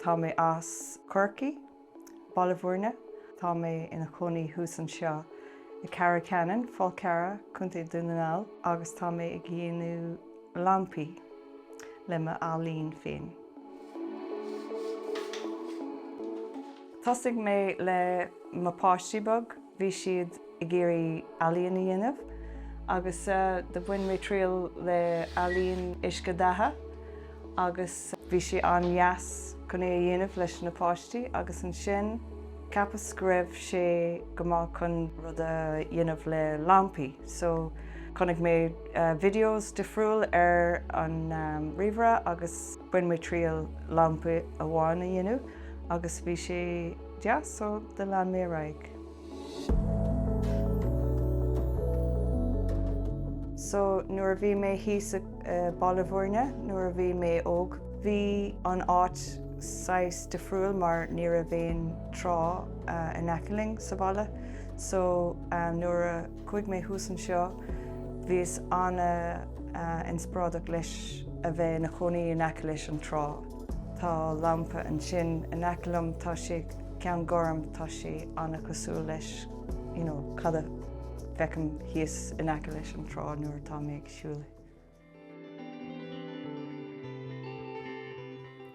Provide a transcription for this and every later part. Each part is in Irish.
Tá mé as Corcaigh, Baile Bhúirne. Tá mé ina chónaí thuas anseo i Ceathrú Cheanainn, Fál Carrach, Co. Dhún na nGall agus tá mé ag déanamh lampaí le mo ealaín féin. Thosaigh mé le mo páistí beaga. Bhí siad ag iarraidh ealaíon a dhéanamh agus do bhain mé triail le ealaín uisce datha agus bhí sé an-deas chun é a dhéanamh leis na páistí agus ansin cheapas go raibh sé go maith chun rud a dhéanamh le lampaí so chonaic mé videos difriúil ar an ríomhaire agus bhain mé triail lampa amháin a dhéanamh agus bhí sé deas so do lean mé ar aghaidh. So nuair a bhí mé thíos i Baile Bhúirne nuair a bhí mé óg bhí an áit saghas difriúil mar ní raibh aon trá in aice linn sa bhaile so nuair a chuaigh mé thuas anseo bhíos an-inspioráideach leis a bheith ina chónaí in aice leis an trá. Tá lampa ansin in aice liom, tá sé ceann gorm, tá sé an-chosúil leis, you know, cad a fheicim thíos in aice leis an trá nuair atá mé ag siúl é.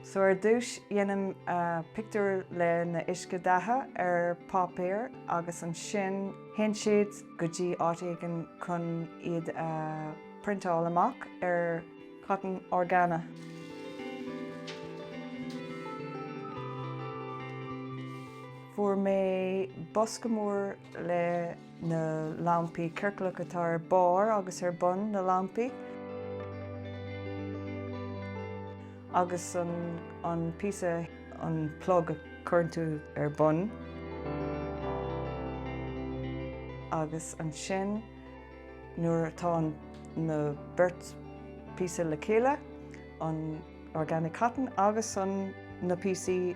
So ar dtúis déanaim pictiúr le na uisce datha ar páipéar agus ansin théann siad go dtí áit éigin chun iad a priontáil amach ar cotton orgánach. Fuair mé bosca mór le na lampaí ciorclach atá ar barr agus ar bun na lampaí. Agus an, an píosa an plug a chuireann tú ar bun. Agus ansin Nuair atá na beart píosa le chéile, an organic cotton agus an na píosaí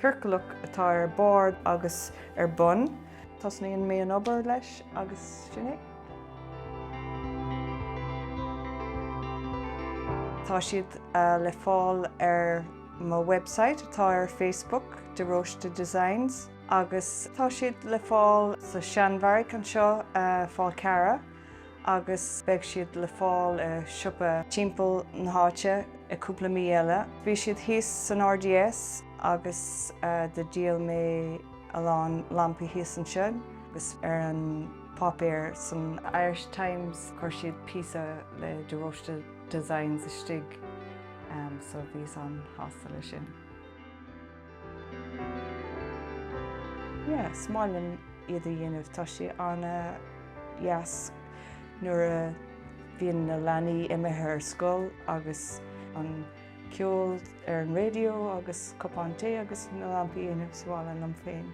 ciorclach atá ar barr agus ar bun, tosnaíonn mé an obair leis agus sin é. Tá siad le fáil ar mo website atá ar Facebook, De Róiste Designs. agus tá siad le fáil sa Seanbheairic anseo Fál Carrach agus beidh siad le fáil i siopa timpeall na háite i cúpla mí eile. Bhí siad thíos san RDS agus do dhíol mé a lán lampaí thíos ansin agus ar an pháipéar san Irish Times chuir siad píosa le De Róiste Designs istigh so bhíos an-shásta leis sin. Yes, is maith liom iad a dhéanamh, tá sé ana dheas nuair a bhíonn na leanaí imithe ar scoil agus an ceol ar an radio agus cupán tae agus na lampaí a dhéanamh sa bhaile liom féin.